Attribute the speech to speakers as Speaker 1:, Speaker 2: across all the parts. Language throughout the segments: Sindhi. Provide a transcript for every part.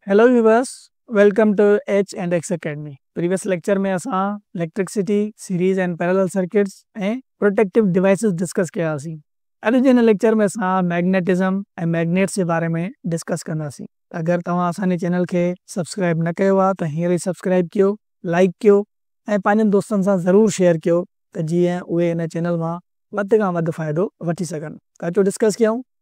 Speaker 1: Hello viewers welcome to H and X academy previous lecture ۾ اسان electricity, series and parallel circuits ۽ protective devices discuss ڪياسين. اڄ جي هن ليڪچر ۾ اسان ميگنيٽزم ۽ ميگنيٽس جي باري ۾ ڊسڪس ڪنداسين. اگر توهان اسان جي چينل کي سبسڪرائب نه ڪيو آهي ته هينئر ئي سبسڪرائب ڪيو، لائيڪ ڪيو ۽ پنهنجن دوستن سان ضرور شيئر ڪيو ته جيئن اهي هن چينل مان وڌ کان وڌ فائدو وٺي سگهن ته اچو ڊسڪس ڪيون.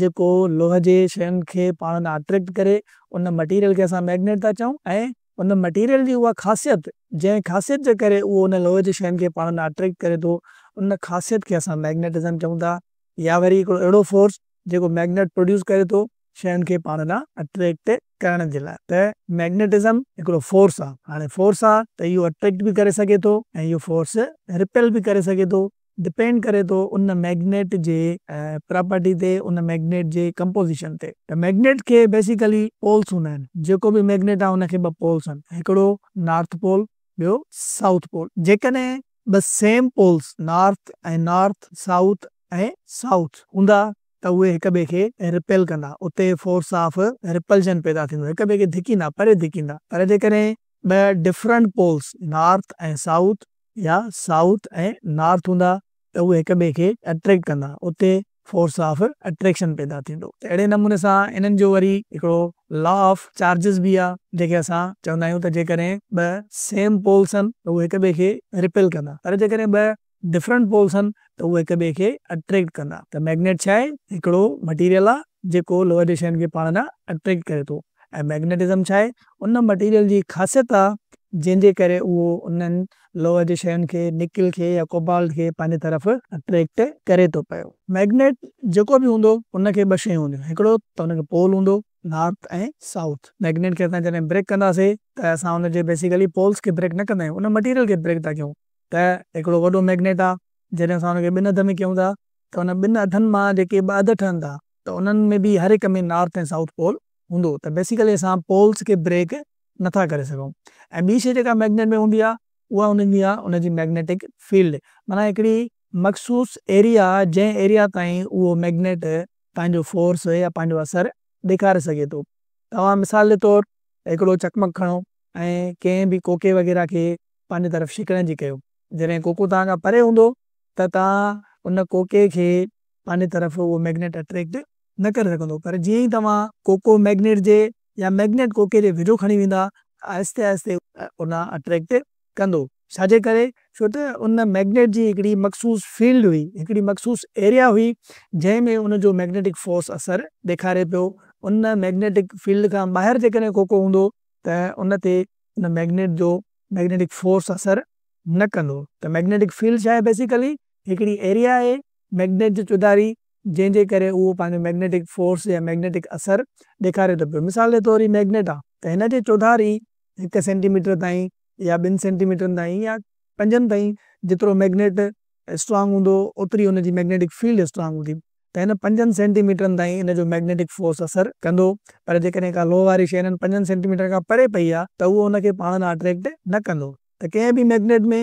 Speaker 1: جيڪو لوهه جي شين کي پاڻ ڏانهن اٽريڪٽ ڪري ان مٽيريل کي اسان مئگنيٽ ٿا چئون ۽ ان مٽيريل جي اها خاصيت جنهن خاصيت جي ڪري اهو ان لوهه جي شين کي پاڻ ڏانهن اٽريڪٽ ڪري ٿو ان خاصيت کي اسان مئگنيٽزم چئون ٿا يا وري هڪڙو اهڙو فورس جيڪو مئگنيٽ پروڊيوس ڪري ٿو شين کي پاڻ ڏانهن اٽريڪٽ ڪرڻ جي لاء ته مئگنيٽزم هڪڙو فورس آهي هاڻي فورس آهي ته اهو اٽريڪٽ به ڪري سگهي ٿو ۽ اهو فورس رپيل به ڪري سگهي ٿو. ڊپينڊ ڪري ٿو ان ميگنيٽ جي پراپرٽي تي ان ميگنيٽ جي ڪمپوزيشن تي ته ميگنيٽ کي بيسيڪلي پولس هوندا آهن جيڪو به ميگنيٽ آهي ان کي ٻه پولس آهن هڪڙو نارٿ پول ٻيو سائوٿ پول جيڪڏهن ٻه same poles north ۽ north south ۽ south هوندا ته اهي هڪ ٻئي کي رپيل ڪندا اتي فورس آف رپلشن پيدا ٿيندو هڪ ٻئي کي ڌڪيندا پري ڌڪيندا پر جيڪڏهن ٻه ڊفرنٽ پولس نارٿ ۽ سائوٿ يا سائوٿ ۽ نارٿ هوندا ته اهي هڪ ٻئي کي اٽريڪٽ ڪندا اتي فورس آف اٽريڪشن پيدا ٿيندو ته اهڙي نموني سان انهن جو وري هڪڙو لا آف چارجز به آ جيڪي اسان چوندا آهيون ته جيڪڏهن ٻه سيم پولس هن ته اهي هڪ ٻئي کي ريپيل ڪندا پر جيڪڏهن ٻه ڊفرنٽ پولس هن ته اهي هڪ ٻئي کي اٽريڪٽ ڪندا ته ميگنيٽ ڇا آهي هڪڙو مٽيريل آ جيڪو لوهه جي شين کي پاڻ ڏانهن اٽريڪٽ ڪري ٿو. ۽ مئگنيٽزم ڇا آهي؟ ان مٽيريل جي خاصيت آ جنهن جي ڪري اهو انهن لوهه جي شين کي، نڪل کي يا ڪوبالٽ کي پنهنجي طرف اٽريڪٽ ڪري ٿو پيو. مئگنيٽ جيڪو به هوندو ان کي ٻه شيون هونديون هڪڙو ته ان کي پول هوندو نارٿ ۽ سائوٿ. مئگنيٽ کي اسان جڏهن بريڪ ڪنداسين ته اسان ان جي بيسيڪلي پولس کي بريڪ نه ڪندا آهيون ان مٽيريل کي بريڪ ٿا ڪيون ته هڪڙو وڏو مئگنيٽ آ جڏهن اسان ان کي ٻن اڌ ۾ ڪيون ٿا ته ان ٻن اڌن مان جيڪي ٻه اڌ ٺهن ٿا ته انهن ۾ به هر هڪ ۾ نارٿ ۽ سائوٿ پول هوندو ته بيسيڪلي اسان پولز کي بريڪ نه ٿا ڪري سگهون ۽ ٻي شئي جيڪا مئگنيٽ ۾ هوندي آهي اها هوندي آهي ان جي مئگنيٽڪ فيلڊ معنيٰ هڪڙي مخصوص ايريا جنهن ايريا تائين اهو مئگنيٽ پنهنجو فورس يا پنهنجو اثر ڏيکاري سگهي ٿو توهان مثال جي طور هڪڙو چقمق کڻو ۽ ڪنهن به ڪوڪي وغيره کي پنهنجي طرف شڪڻ جي ڪيو جڏهن ڪوڪو توهان کان پري هوندو ته توهان ان ڪوڪي کي پنهنجي طرف اهو ميگنيٽ اٽريڪٽ نه ڪري سگهندو پر جيئن ئي توهان ڪوڪو ميگنيٽ جي يا ميگنيٽ ڪوڪي جي ويجهو کڻي ويندا ته آهستي آهستي ان اٽريڪٽ ڪندو ڇاجي ڪري ڇو ته ان ميگنيٽ جي هڪڙي مخصوص فيلڊ هئي هڪڙي مخصوص ايريا هئي جنهن ۾ ان جو ميگنيٽڪ فورس اثر ڏيکاري پيو ان ميگنيٽڪ فيلڊ کان ٻاهر جيڪڏهن ڪوڪو هوندو ته ان تي ان ميگنيٽ جو ميگنيٽڪ فورس اثر نه ڪندو ته ميگنيٽڪ فيلڊ ڇا آهي بيسيڪلي هڪڙي ايريا آهي. مئگنيٽ جو چوڌاري، جنهن جي ڪري اهو پنهنجو مئگنيٽڪ فورس يا مئگنيٽڪ اثر ڏيکاري ٿو پيو. مثال جي طور هي مئگنيٽ آ ته هن جي چوڌاري هڪ سينٽي ميٽر تائين يا ٻن سينٽي ميٽرن تائين يا پنجن تائين جيترو مئگنيٽ اسٽرانگ هوندو اوتري ان جي مئگنيٽڪ فيلڊ اسٽرانگ هوندي ته هن پنجن سينٽي ميٽرن تائين ان جو مئگنيٽڪ فورس اثر ڪندو پر جيڪڏهن ڪا لوهه واري شئي انهن پنجن سينٽي ميٽرن کان پري پئي آ ته اهو ان کي پاڻ ڏانهن اٽريڪٽ نه ڪندو ته ڪنهن به مئگنيٽ ۾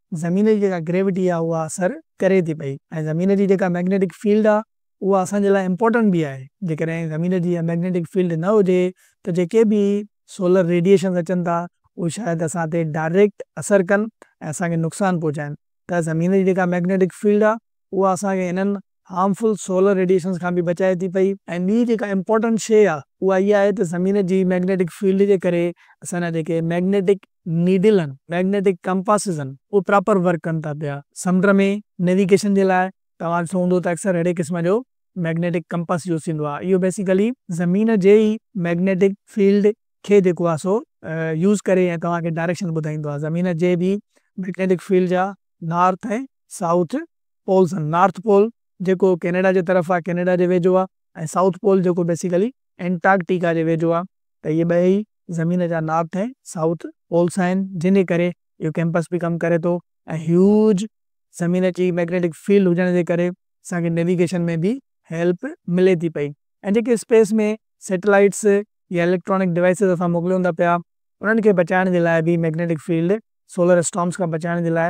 Speaker 1: زمين جي جيڪا گريوٽي آ اها اثر ڪري ٿي پئي ۽ زمين جي جيڪا مئگنيٽڪ فيلڊ آ اها اسان جي لاء امپورٽنٽ به آهي جيڪڏهن زمين جي اها مئگنيٽڪ فيلڊ نه هجي ته جيڪي به سولر ريڊيئيشنز اچن ٿا اهي شايد اسان تي ڊائريڪٽ اثر ڪن ۽ اسان کي نقصان پهچائن ته زمين جي جيڪا مئگنيٽڪ فيلڊ آ اها اسان کي انهن هارمفل سولر ريڊيئيشنز کان به بچائي ٿي پئي ۽ ٻي جيڪا امپورٽنٽ شيء آ اها اها آهي ته زمين جي ميگنيٽڪ فيلڊ جي ڪري اسان جا جيڪي ميگنيٽڪ نيڊل آهن ميگنيٽڪ ڪمپاسز آهن اهي پراپر ورڪ ڪن ٿا پيا سمنڊ ۾ نيويگيشن جي لاء توهان ڏٺو هوندو ته اڪثر اهڙي قسم جو ميگنيٽڪ ڪمپاس يوز ٿيندو آهي اهو بيسيڪلي زمين جي ئي ميگنيٽڪ فيلڊ کي جيڪو آهي سو يوز ڪري ۽ توهان کي ڊائريڪشن ٻڌائيندو آهي زمين جي به ميگنيٽڪ فيلڊ جا نارٿ ۽ سائوٿ پولز آهن، نارٿ پول جيڪو ڪينيڊا جي طرف آهي، ڪينيڊا جي ويجهو آهي ۽ سائوٿ پول جيڪو بيسيڪلي انٽارڪٽيڪا جي ويجهو آهي ته اهي ٻئي ئي زمين جا نارٿ ۽ سائوٿ پولز آهن جنهن جي ڪري اهو ڪيمپس به ڪم ڪري ٿو ۽ هيوج زمين جي مئگنيٽڪ فيلڊ هجڻ جي ڪري اسان کي نيويگيشن ۾ به هيلپ ملي ٿي پئي ۽ جيڪي اسپيس ۾ سيٽلائيٽس يا اليڪٽرانڪ ڊوائسز اسان موڪليون ٿا پيا انهن کي بچائڻ جي لاء به مئگنيٽڪ فيلڊ سولر اسٽارمز کان بچائڻ جي لاء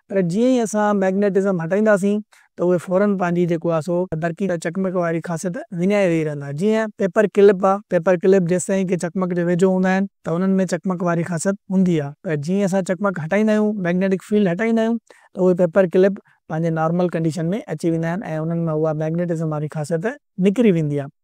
Speaker 1: پر جيئن ئي اسان مئگنيٽزم هٽائينداسين ته اهي فوراً پنهنجي جيڪو آهي سو برقي يا چقمق واري خاصيت وڃائي ويهي رهندا. جيئن پيپر ڪلپ آهي، پيپر ڪلپ جيستائين ڪي چقمق جي ويجهو هوندا آهن ته انهن ۾ چقمق واري خاصيت هوندي آهي پر جيئن ئي اسان چقمق هٽائيندا آهيون، مئگنيٽڪ فيلڊ هٽائيندا آهيون ته اهي پيپر ڪلپ پنهنجي نارمل ڪنڊيشن ۾ اچي ويندا آهن ۽ انهن مان اها مئگنيٽزم واري خاصيت نڪري ويندي آهي.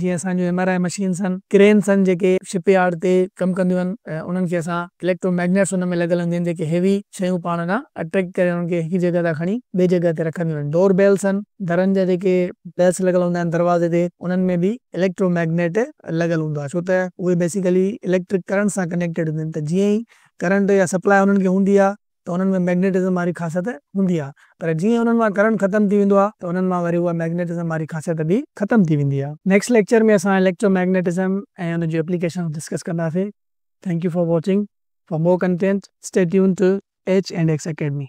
Speaker 1: جيئن اسان جون ايم آر آء مشينز هن ڪرينز هن جيڪي شپ يارڊ تي ڪم ڪنديون هن انهن کي اسان اليڪٽرو ميگنيٽس ان ۾ لڳل هونديون هن جيڪي هيوي شيون پاڻ ڏانهن اٽريڪٽ ڪري انهن کي هڪ جڳهه تان کڻي ٻي جڳهه تي رکنديون هن ڊور بيلز هن درن جا جيڪي بيلز لڳل هوندا آهن دروازي تي انهن ۾ به اليڪٽرو ميگنيٽ لڳل هوندو آهي ڇو ته اهي بيسيڪلي اليڪٽرڪ ڪرنٽ سان ڪنيڪٽيڊ هونديون هن ته جيئن ئي ڪرنٽ يا سپلاء انهن کي هوندي آهي ته انهن ۾ مئگنيٽزم واري خاصيت هوندي آهي پر جيئن انهن مان ڪرنٽ ختم ٿي ويندو آهي ته انهن مان وري اها مئگنيٽزم واري خاصيت به ختم ٿي ويندي آهي. نيڪسٽ ليڪچر ۾ اسان اليڪٽرو مئگنيٽزم ۽ ان جون اپليڪيشنز ڊسڪس ڪنداسين. Thank you for watching. For more content stay tuned to H and X academy.